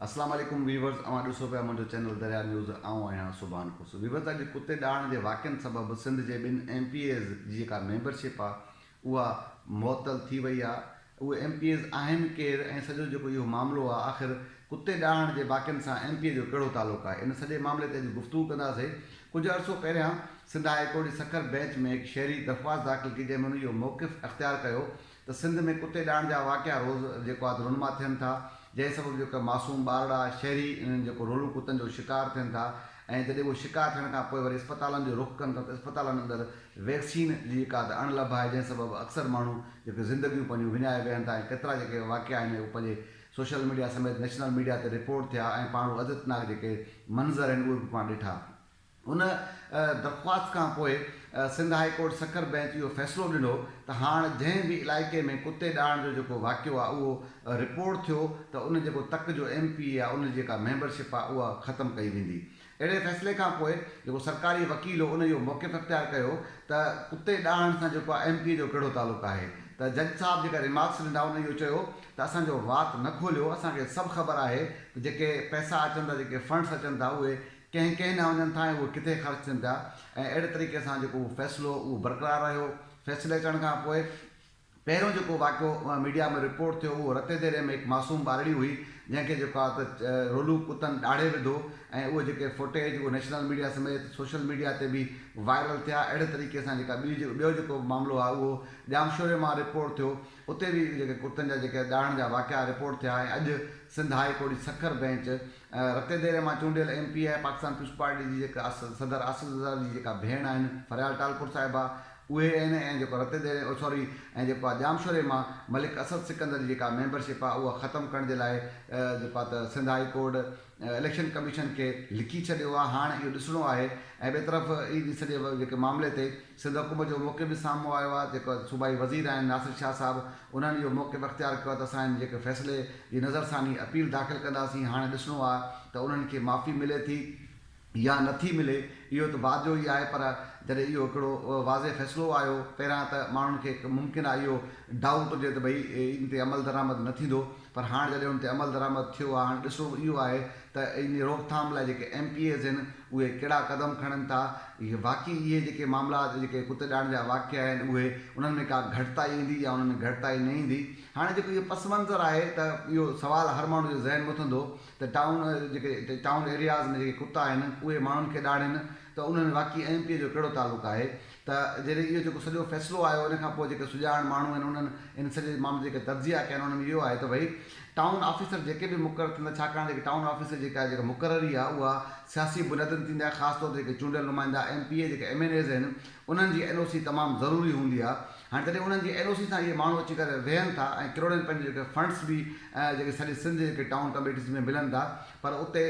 اسلام عليڪم ويورز اوهان ڏسو پيا منهنجو چينل دريا نيوز آئون آهيان سبحان خوش ويورز اڄ ڪتي ڏاڙهڻ جي واقعن سبب سنڌ جي ٻن ايم پي ايز جي جيڪا ميمبر شپ آ اها معطل ٿي وئي آ اهي ايم پي ايز آهن ڪير ۽ سڄو جيڪو اهو معاملو آ آخر ڪتي ڏاڙهڻ جي واقعن سان ايم پي اي جو ڪهڙو تعلق آهي ان سڄي معاملي تي اڄ گفتگو ڪندا سي ڪجهه عرصو پهريان سنڌ هاء ڪورٽ جي سکر بينچ ۾ هڪ شهري درخواست داخل ڪئي جنهن ۾ هن اهو موقف اختيار ڪيو ته سنڌ ۾ ڪتي ڏائڻ جا واقعا روز جيڪو آد رونما ٿين ٿا جنهن سبب جيڪو معصوم ٻارڙا شهري انهن جيڪو رولو ڪتن جو شڪار ٿين ٿا ۽ جڏهن اهو شڪار ٿيڻ کان پوء وري اسپتالن جو رخ ڪن ٿا ته اسپتالن اندر ويڪسين جي جيڪا آد اڻ لڀ آهي جنهن سبب اڪثر ماڻهو جيڪي زندگيون پنهنجون وڃائي ويهن ٿا ۽ ڪيترا جيڪي واقعا آهن اهو پنهنجي سوشل ميڊيا سميت نيشنل ميڊيا تي رپورٽ ٿيا ۽ پاڻ اهو عزيتناڪ جيڪي منظر آهن اهي به پاڻ ڏٺا هن درخواست کان پوء Sindh high court Sukkur bench اهو فيصلو ڏنو ته هاڻ جنهن به علائقي ۾ ڪتي ڏاهڻ جو جيڪو واقعو آهي اهو رپورٽ ٿيو ته ان جيڪو تڪ جو ايم پي اي آهي ان جي جيڪا ميمبرشپ آهي اها ختم ڪئي ويندي. اهڙي فيصلي کان پوء جيڪو سرڪاري وڪيل هو ان اهو موقف اختيار ڪيو ته ڪتي ڏاهڻ سان جيڪو ايم پي اي جو ڪهڙو تعلق آهي ته جج صاحب جيڪا ريمارڪس ڏنا ان اهو چيو ته اسان جو وات نه کوليو اسان کي سڀ خبر آهي ته جيڪي پئسا اچن ٿا جيڪي فنڊس اچن ٿا اهي ڪنهن ڪنهن ڏانهن وڃن ٿا ۽ اهي ڪٿي خرچ ٿين ٿا ۽ اهڙي طريقي سان جيڪو اهو فيصلو هو اهو برقرار رهيو. فيصلي اچڻ کان پوء پهريون جيڪو واقعو ميڊيا ۾ رپورٽ ٿيو اهو رتي ديري ۾ هڪ معصوم ٻارڙي هئي جنهن کي جيڪو آهي ته رولو ڪتن ڏاڙهي وڌو ۽ اهي جيڪي فوٽيج اهي نيشنل ميڊيا سميت سوشل ميڊيا تي به وائرل ٿيا اهڙي طريقي سان جيڪا ٻيو جيڪو به معاملو آهي اهو ڄامشوري مان رپورٽ ٿيو اتي به جيڪي ڪتن جا جيڪي ڏاڙهڻ جا واقعا رپورٽ ٿيا ۽ اڄ سنڌ هاء ڪورٽ جي سکر بينچ رتي ديري مان چونڊيل M P A Pakistan Peoples Party جي جيڪا صدر آصف زرداري جي جيڪا ڀيڻ آهن فريال ٽالپور صاحبه اهي آهن ۽ جيڪو رتي ديري او سوري ۽ جيڪو آ ڄامشوري مان ملڪ اسد سڪندر جي جيڪا ميمبر شپ آ اها ختم ڪرڻ جي لاء جيڪو آ ته Sindh high court election commission کي لکي ڇڏيو آ هاڻ اهو ڏسڻو آهي ۽ ٻي طرف اي ڊي سڄي جيڪي معاملي تي سنڌ حڪومت جو موقف به سامهون آيو آهي، جيڪو صوبائي وزير آهن ناصر شاهه صاحب، انهن اهو موقف اختيار ڪيو آهي ته اسان هن جيڪي فيصلي جي نظرثاني اپيل داخل ڪنداسين، هاڻي ڏسڻو آهي ته انهن کي معافي ملي ٿي يا نه ٿي ملي، اهو ته بعد جو ئي آهي پر جڏهن اهو هڪڙو واضح فيصلو آيو پهريان ته ماڻهن کي ممڪن آهي اهو ڊائوٽ هجي ته ڀئي ان تي عملدرآمد نه ٿيندو، پر هاڻ جڏهن ان تي عملدرآمد ٿيو آهي هاڻ ڏسو اهو آهي ته ان جي روڪٿام لاء جيڪي ايم پي ايز آهن اهي ڪهڙا قدم کڻن ٿا ۽ واقعي اهي جيڪي معاملا جيڪي ڪتي ڏاڙهن جا واقعا آهن اهي انهن ۾ ڪا گهٽتائي ايندي يا انهن ۾ گهٽتائي نه ايندي هاڻ جيڪو اهو پس منظر آهي ته اهو سوال هر ماڻهو جو ذهن مٿندو ته ٽائون جيڪي ٽائون ايرياز ۾ جيڪي ڪتا آهن اهي ماڻهن کي ڏاڙهن ته ان ۾ واقعي ايم پي اي جو ڪهڙو تعلق آهي ته جڏهن اهو جيڪو سڄو فيصلو آيو ان کان پوء جيڪي سڄاڻ ماڻهو آهن انهن ان سڄي معاملي جيڪي تجزيا ڪيا آهن ان ۾ اهو آهي ته ڀئي ٽائون آفيسر جيڪي به مقرر ٿيندا ڇاڪاڻ جيڪي ٽائون آفيسر جيڪا آهي جيڪا مقرري آهي اها سياسي بنيادن تي ٿيندي آهي خاص طور تي جيڪي چونڊيل نمائندا ايم پي اي جيڪي ايم اين ايز آهن انهن جي اين او سي تمام ضروري هوندي آهي هاڻي جڏهن انهن جي اين او سي سان اهي ماڻهو اچي ڪري ويهن ٿا ۽ ڪروڙين پنهنجي جيڪي فنڊس به جيڪي سڄي سنڌ جي جيڪي ٽائون ڪميٽيز ۾ ملن ٿا پر اتي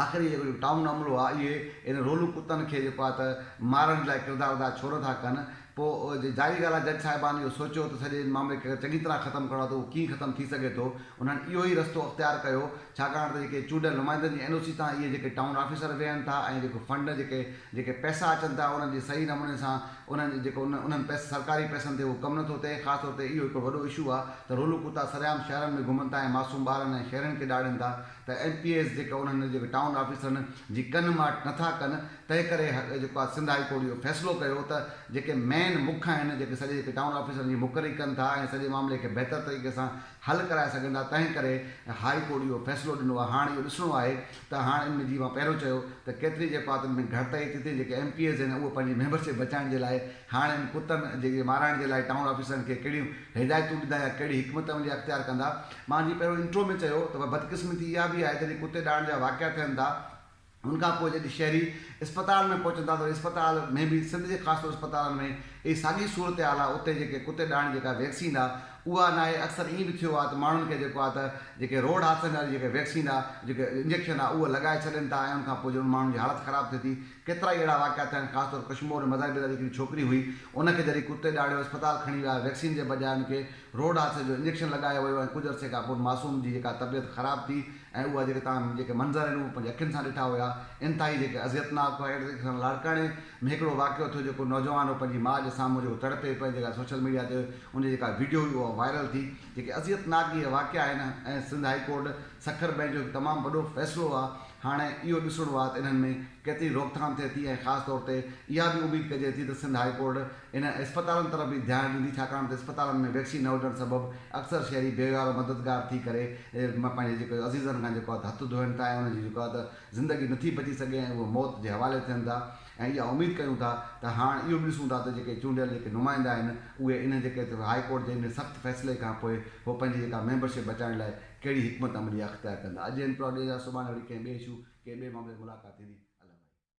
آخر اهي جيڪو ٽائون عملو آ اهي ان رولو ڪتن کي جيڪو آ ته مارڻ جي لاء ڪردار ادا ڇو نه ٿا ڪن پو جي ظاهري ڳالهه آ جج صاحبان اهو سوچيو ته سڄي ان معاملي کي اگر چڱي طرح ختم ڪرڻو آ ته اهو ڪيئن ختم ٿي سگهي ٿو انهن اهو ئي رستو اختيار ڪيو ڇاڪاڻ ته جيڪي چونڊيل نمائندن جي اين او سي تان اهي جيڪي ٽائون آفيسر ويهن ٿا ۽ جيڪو فنڊ جيڪي جيڪي پئسا اچن ٿا انهن جي صحيح نموني سان انهن جي جيڪو انهن پئسن سرڪاري پئسن تي اهو ڪم نه ٿو ٿئي خاص طور تي اهو هڪڙو وڏو اشو آ ته رولو ڪتا سرعام شهرن ۾ گهمن ٿا ۽ معصوم ٻارن ۽ شهرين کي ڏاڙهين ٿا ته ايم پي ايز جيڪا انهن جيڪي ٽائون آفيسرن جي ڪن ماٽ نٿا ڪن تنهن ڪري جيڪو آ سنڌ هائي ڪورٽ اهو فيصلو ڪيو ته جيڪي مين مک آهن جيڪي سڄي جيڪي ٽائون آفيسرن جي مقرري ڪن ٿا ۽ سڄي معاملي کي بهتر طريقي سان حل ڪرائي سگهن ٿا تنهن ڪري هائي ڪورٽ اهو فيصلو ڏنو آ هاڻ اهو ڏسڻو آهي ته هاڻ ان ۾ جي مان پهريون چيو ته ڪيتري جيڪو آ تن ۾ گهٽتائي ٿي ٿئي جيڪي ايم پي ايز آهن اهي پنهنجي ميمبر شپ بچائڻ جي لاء هاڻ ان ڪتن جي مارائڻ جي لاء ٽائون آفيسرن کي ڪهڙيون هدايتون ڏيندا يا ڪهڙي حڪمت عملي اختيار ڪندا مان جيئن پهريون انٽرو ۾ چيو ته پر بدقسمتي اها به آهي جڏهن ڪتي ڏاڙهڻ جا واقعا ٿين ٿا ان کان پوء جڏهن شهري اسپتالن ۾ پهچن ٿا ته اسپتال ۾ به سنڌ جي خاص طور اسپتالن ۾ اهي ساڳي صورتحال آهي اتي جيڪي ڪتي ڏاڙهڻ جي جيڪا ويڪسين آهي اها ناهي اڪثر ائين به ٿيو آهي ته ماڻهن کي جيڪو آهي ته جيڪي روڊ حادثن واري جيڪي ويڪسين آهي جيڪي انجيڪشن آهي اهو لڳائي ڇڏين ٿا ۽ ان کان پوء جڏهن ان ماڻهن جي حالت خراب ٿئي ٿي ڪيترا ئي اهڙا واقعا ٿيا آهن خاص طور ڪشمور ۾ مزاربيلا جي هڪڙي ڇوڪري هئي ان کي جڏهن ڪتي ڏاڙهيو اسپتال کڻي ويا ويڪسين جي بجاء ان کي روڊ حادثي جو انجيڪشن لڳايو ويو ۽ ڪجهه عرصي کانپون معصوم جي جيڪا طبيعت خراب ٿي ۽ اها جيڪي توهان جيڪي منظر آهن اهي پنهنجي اکين سان ڏٺا هيا انتهائي جيڪي اذيت ناڪ هئا اهڙي طريقي سان لاڙڪاڻي ۾ هڪڙو واقعو ٿيو جيڪو نوجوان هو پنهنجي ماء جي سامهون جيڪو تڙپي پئي جيڪا سوشل ميڊيا تي ان جي جيڪا ويڊيو هئي اها وائرل ٿي جيڪي اذيت ناڪ اهي واقعا آهن ۽ Sindh high court Sukkur bench جو هڪ تمام وڏو فيصلو آهي هاڻي اهو ڏسڻو آهي ته انهن ۾ ڪيتري روڪٿام ٿئي ٿي ۽ خاص طور تي اها به اميد ڪجي ٿي ته سنڌ هاء ڪورٽ انهن اسپتالن طرف به ڌيان ڏيندي ڇاڪاڻ ته اسپتالن ۾ ويڪسين نه هجڻ سبب اڪثر شهري بي وهوارو مددگار ٿي ڪري پنهنجي جيڪو عزيزن کان جيڪو آهي ته هٿ ڌوئن ٿا ۽ انهن جي جيڪو آهي ته زندگي نٿي بچي سگهي ۽ اهي موت جي حوالي ٿين ٿا ۽ اها اميد ڪيون ٿا ته هاڻ اهو به ڏسون ٿا ته جيڪي چونڊيل جيڪي نمائندا آهن اهي انهن جيڪي هاء ڪورٽ جي انهن سخت فيصلي کان پوء هو پنهنجي جيڪا ميمبرشپ بچائڻ لاء ڪهڙي حڪمت عملي اختيار ڪندا. اڄ انٽرو اڳي جا سڀاڻي وري ڪنهن ٻئي اشو ڪنهن ٻئي معاملي تي ملاقات ٿيندي. الوداعي.